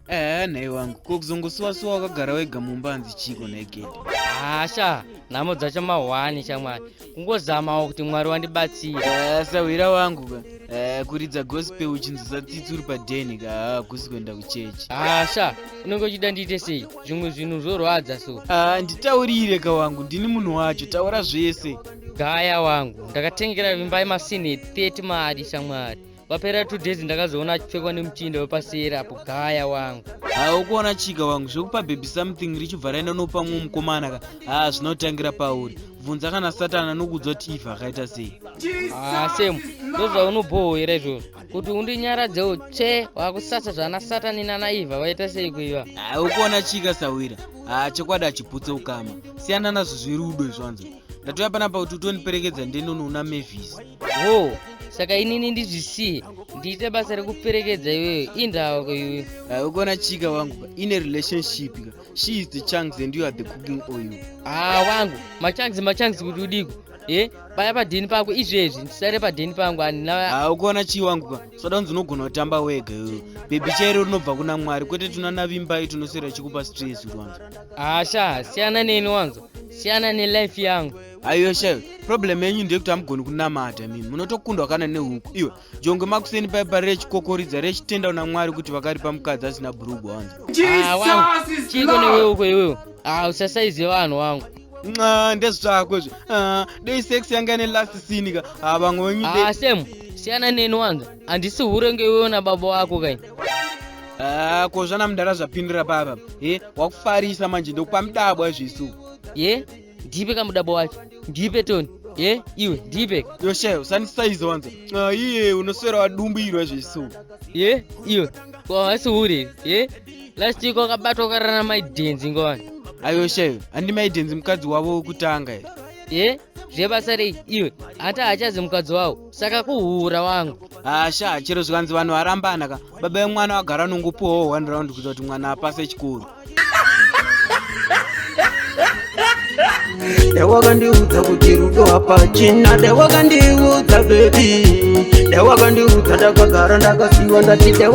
Eh, nhai wangu ko kuzongosuwasuwa wakagara wega mumba hanzi chiiko nhai gedi hasha nhamo dzacho mahwani shamwari kungozamawo kuti mwari wandibatsira eh, sahwira wangu ka eh, kuridza gospel uchinzi satsitsi uri padeni ka hakusi ah, kuenda kuchechi hasha ah, unenge uchida ndiite sei zvimwe zvinhu zvorwadza so ah, nditaurire ka wangu ndini munhu wacho taura zvese gaya wangu ndakatengera vimbai masine 30 mari shamwari Papera two days ndakazoona achipfekwa nemuchinda wepasera apo gaya wangu. Haa ukuona chika wangu zvekupa baby something richibva raenda nopa mumwe mukomana ka haa zvinotangira pauri bvunza kana satani anokuudza kuti ifa akaita sei haa semu ndozvaunobhohwera izvozvo kuti undinyaradzewo tsve wakusasa zvana satani nana iva vaita sei kuiva haa ukuona chika sahwira haa chokwadi achiputse ukama siyana nazvo zvirudo izvanzo ndatouya panapa kuti utondiperekedza ndenono una mavis wo oh, saka inini ndizvisiye ndiite basa rekuperekedza iweyo indawako iwe ah, ukona chika wangu ka ine relationship ka she is the chunks and you are the cooking oil haa ah, wangu machunks machunks kuti udiko e paya padheni pako izvezvi ndisare padheni pangu andina ukuona chii wangu ka soda kunzi unogona kutamba wega iwe bhebhi chairo rinobva kuna mwari kwete tuna navimbai tunosera chikupa stress rwanza Asha, siyana neni wanzo. Siyana ne life yangu. Ayo shewe, problem yenyu ndeyekuti hamugoni kunamata imimi. Munotokundwa kana nehuku. Iwe, jongwe makuseni paye pari rechikokoridza rechitenda una Mwari kuti vakaripa mukadzi asina bhurugwa wanzo. Ah, wangu. Chiko newe uko iwewe. Ah, usasaize vanhu wangu. Nxa, ndezvako izvo. Ah, dei sex yanga ine last scene ka. Ah, vamwe wenyu. Ah, Sam, siyana neni wanzo. handisi hure ngeiwewo nababa wako kai ah, ko zvana mudara zvapindira papa e wakufarisa manje ndokupa mudabwa zvisu ye ndipe kamudabwa wacho ndipe toni ye iwe ndipe yoshe usandisaiza wanza ah, iye unoswera wadumbirwa zvisu ye iwe kwahasi hure ye last week wakabatwa ukarana maidenzi ngowani ayoshe handi maidenzi mukadzi wavo wekutanga ye zvebasa rei iwe hata hachazi mukadzi wavo saka kuhura wangu hasha chero zvikanzi vanhu varambana ka baba vemwana vagara nongopuwawo one round kuita kuti mwana apase chikuru dewakandiudza kuti rudo hapachina dewakandiudza bebi dewakandiudza ndakagara ndakasiwa ndati dewa